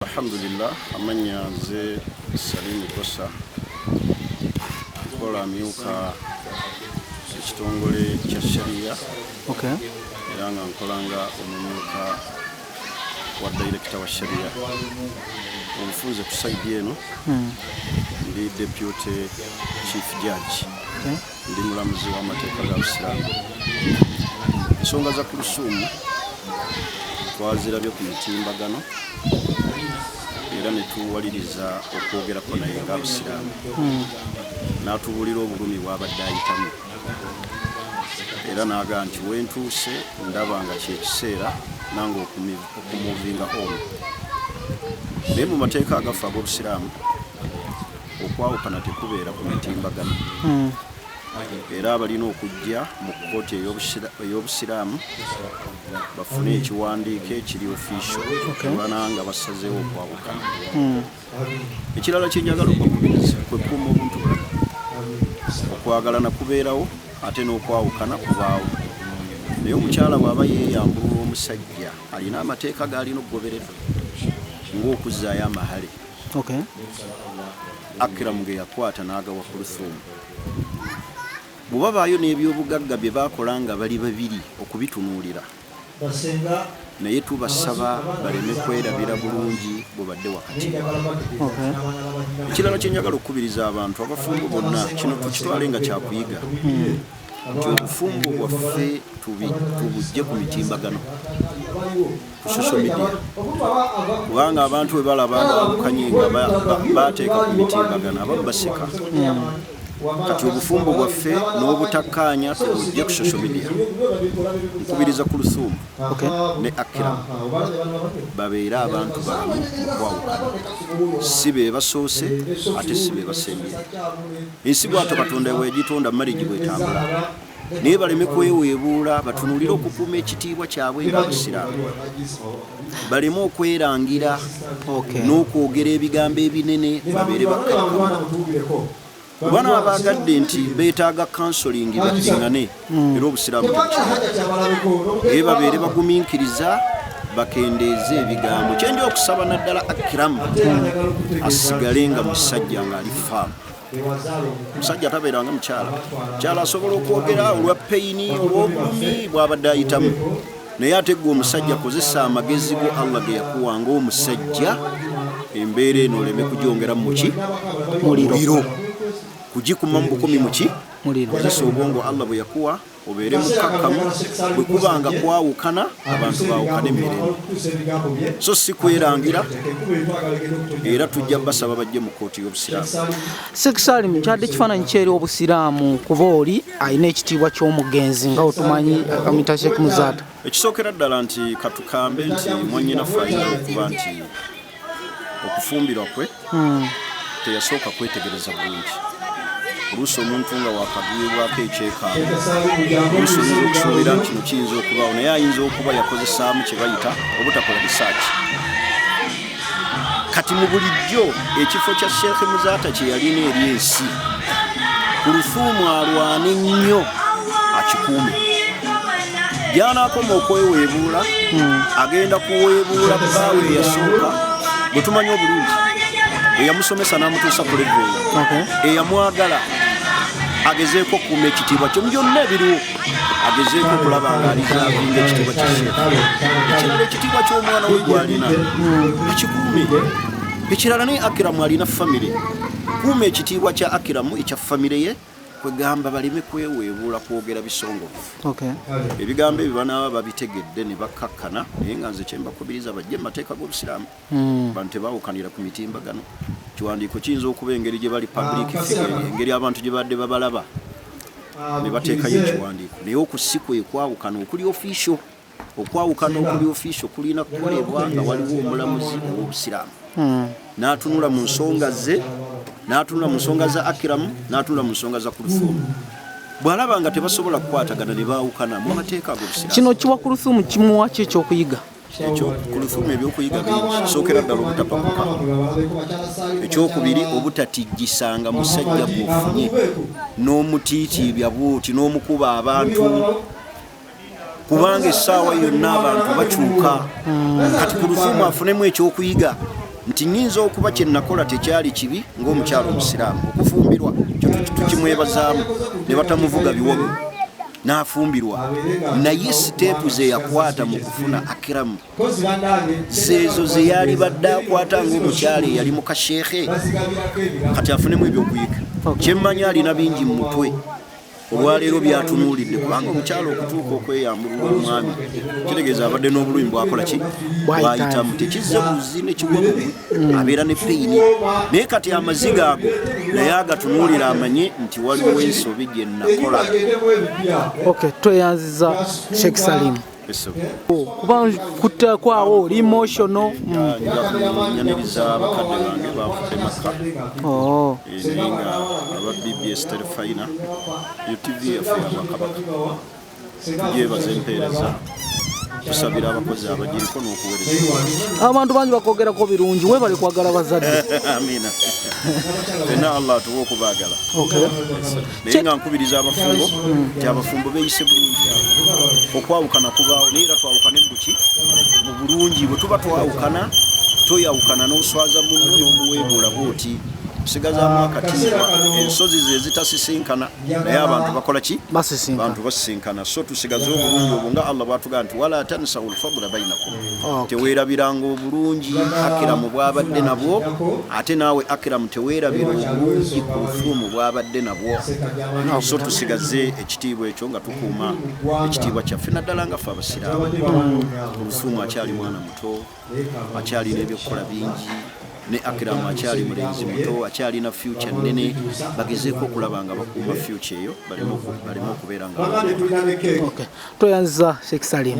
alhamdulillah amanya nze salimu kosa nkola amyuka ekitongole kya sharia okay. era nga nkolanga omumyuka wa dairekita wa sharia omufunze ku saidi eno hmm. ndi deputy chief judge okay. Ndi mulamuzi w'amateeka ga Busiraamu. Ensonga za Kulusuumu twazirabye ku mitimbagano era ne tuwaliriza okwogerako naye nga Busiraamu hmm. n'atubuulira obulumi bw'abadde ayitamu era n'aga nti wentuuse ndaba nga kyekiseera nange okumuvinga omu naye mu mateeka agafa ag'obusiraamu okwawukana tekubeera ku mitimbagano hmm. era abalina okujja mu kkooti ey'obusiraamu bafune ekiwandiiko ekiri ofisio ebana nga basazeewo okwawukana hmm. ekirala kyenjagala okubakubiriza kwekuuma obuntu bwona okwagalana kubeerawo ate n'okwawukana kubaawo naye omukyala bw'aba yeeyambulula omusajja alina amateeka gaalina okugoberera ng'okuzzaayo amahale okay. akiramu ge yakwata n'agawa kulusuumu bwebabaayo n'ebyobugagga bye bakola nga bali babiri okubitunuulira naye tubasaba baleme kwerabira bulungi bwebadde wakati ekirala kyenjagala okukubiriza abantu abafumbo bonna kino tukitwale nga kyakuyiga hmm. nti obufumbo bwaffe tubujje ku mitimbagano ku social media kubanga abantu bwe balaba abawukanye nga bateeka ku mitimbagano abamu baseka kati obufumbo bwaffe n'obutakkaanya tubujje ku social media nkubiriza ku lusuumu ne akira babeere abantu balamu okwawukana si be basoose ate si be basembye ensi bwato katonda wegitonda marigi bwetambula naye baleme kweweebuula batunulire okukuuma ekitiibwa kyabwe nga busiraamu baleme okwerangira n'okwogera ebigambo ebinene babeere bakkakkana bano abaagadde nti beetaaga kansolingi baddingane hmm. era obusiraamu naye babeere bagumiikiriza bakendeeze ebigambo kyendi okusaba naddala akiramu hmm. asigale nga musajja ng'ali faamu omusajja tabeera nga mukyala mukyala asobola okwogera olwa peyini olwobulumi bwabadde ayitamu naye ate gwe omusajja kozesa amagezi go allah ge yakuwa ngaomusajja embeera eno oleme kugyongera muki muliro kugikuma mu bukumi muki kozesa obwongo allah bwe yakuwa obeere mukkakkamu bwe kuba nga kwawukana abantu baawukana emirimu so si kwerangira era tujja basaba bajje mu kkooti y'obusiraamu sekisaalim kyadde ekifaananyi kyeri obusiraamu kuba oli alina ekitiibwa ky'omugenzi nga otumanyi akamita sheek muzaata ekisookera ddala nti katukambe nti mwanyinaffe alina okuba nti okufumbirwa kwe hmm. teyasooka kwetegereza bulungi oluusi omuntu nga wakagwibwako ekyekaalo oluusi oyinza okusuubira nti kino kiyinza okubaawo naye ayinza okuba yakozesaamu kye bayita obutakola risaaki kati mu bulijjo ekifo kya sheekhe muzaata kye yalina eri ensi ku lufuumu alwane nnyo akikuume byanakoma okweweebuula hmm. agenda kuweebuula bbaawe eyasooka bwe tumanya obulungi eyamusomesa n'amutuusa ku leve eyamwagala agezeeko okukuuma ekitiibwa kyo byonna ebiriwo agezeeko okulaba nga alizavinga ekitiibwa kya sheekh ekirala ekitiibwa ky'omwana we gwalina hmm. akikuume ekirala naye akiramu alina famire kuuma ekitiibwa kya akiramu ekya famire ye kwegamba baleme kweweebuula kwogera bisongovu ebigambo ebyo banaaba babitegedde ne bakkakkana naye nga nze kyembakubiriza bajje mu mateeka g'obusiraamu hmm. bantu tebawukanira ku mitimbagano kiwandiiko kiyinza okuba engeri gye bali public ah, figure engeri abantu gye badde babalaba ah, ne bateekayo ekiwandiiko naye okusi kwekwawukana okuli official okwawukana okuli ofiisi okulina kukolebwa nga waliwo omulamuzi ow'obusiraamu hmm. n'atunula mu nsonga ze n'atunula mu nsonga za akiramu n'atunula mu nsonga za kulufoomu bw'alaba nga tebasobola kukwatagana ne baawukana mu mateeka ag'obusiraamu kino kiwa kulufoomu kimuwa ki ekyokuyiga ekyo kulufoomu ebyokuyiga bingi sookera ddala obutapakuka ekyokubiri obutatijjisanga musajja gwofunye n'omutiitiibya bwoti n'omukuba abantu kubanga essaawa yonna abantu bakyuka kati ku lufumu afunemu ekyokuyiga nti nyinza okuba kyenakola tekyali kibi ngaomukyalo omusiraamu okufumbirwa tukimwebazaamu ne batamuvuga biwogo n'afumbirwa naye siteepu zeyakwata mu kufuna akiramu zeezo zeyali badde akwata ngaomukyalo eyali mu kasheekhe kati afunemu ebyokuyiga kyemmanyi alina bingi mu mutwe olwaleero byatunuulidde kubanga omukyalo okutuuka okweyambulula omwami kitegeeza abadde n'obulumi bwakola ki bwayitamu tekizze muzi nekigwa mubi mm. abeera ne peyini naye kati amaziga ago naye agatunuulira amanye nti waliwo ensobi gye nakola tweyanziza sheikh salimu kuba kutekwawo oli emotional nyaniriza abakadde bange bafudde makka oh. eh, naye nga aba bbs terefayina utv yaffe yabakabaka tugyebaza empeereza tusabira abakozi abagiriko n'okuwereza abantu bangi bakwogerako birungi webale kwagala bazadde amina fena allah atuwa okubaagala naye nga nkubiriza abafumbo nti abafumbo beyise bulungi okwawukana kubaawo naye era twawukane mubuki mu bulungi bwe tuba twawukana toyawukana n'oswaza munno n'omuweebuula bwoti kusigazamu akatimba ensozi zezitasisinkana naye abantu bakola ki bantu basisinkana so tusigaze obulungi obwo nga allah bwatugaa nti wala tansahu lfadula bainakum teweerabiranga obulungi akiramu bwabadde nabwo ate naawe akiramu teweerabira obulungi ku bufuumu bwabadde nabwo so tusigaze ekitiibwa ekyo nga tukuuma ekitiibwa kyaffe naddala nga ffe abasiraamu obufuumu akyali mwana muto akyalina ebyokukola bingi ne akiramu akyali mulenzi muto akyalina fyuca nnene bagezeeko okulaba nga bakuuma fyuca eyo baleme okubeera nga tweyanziza sheikh salim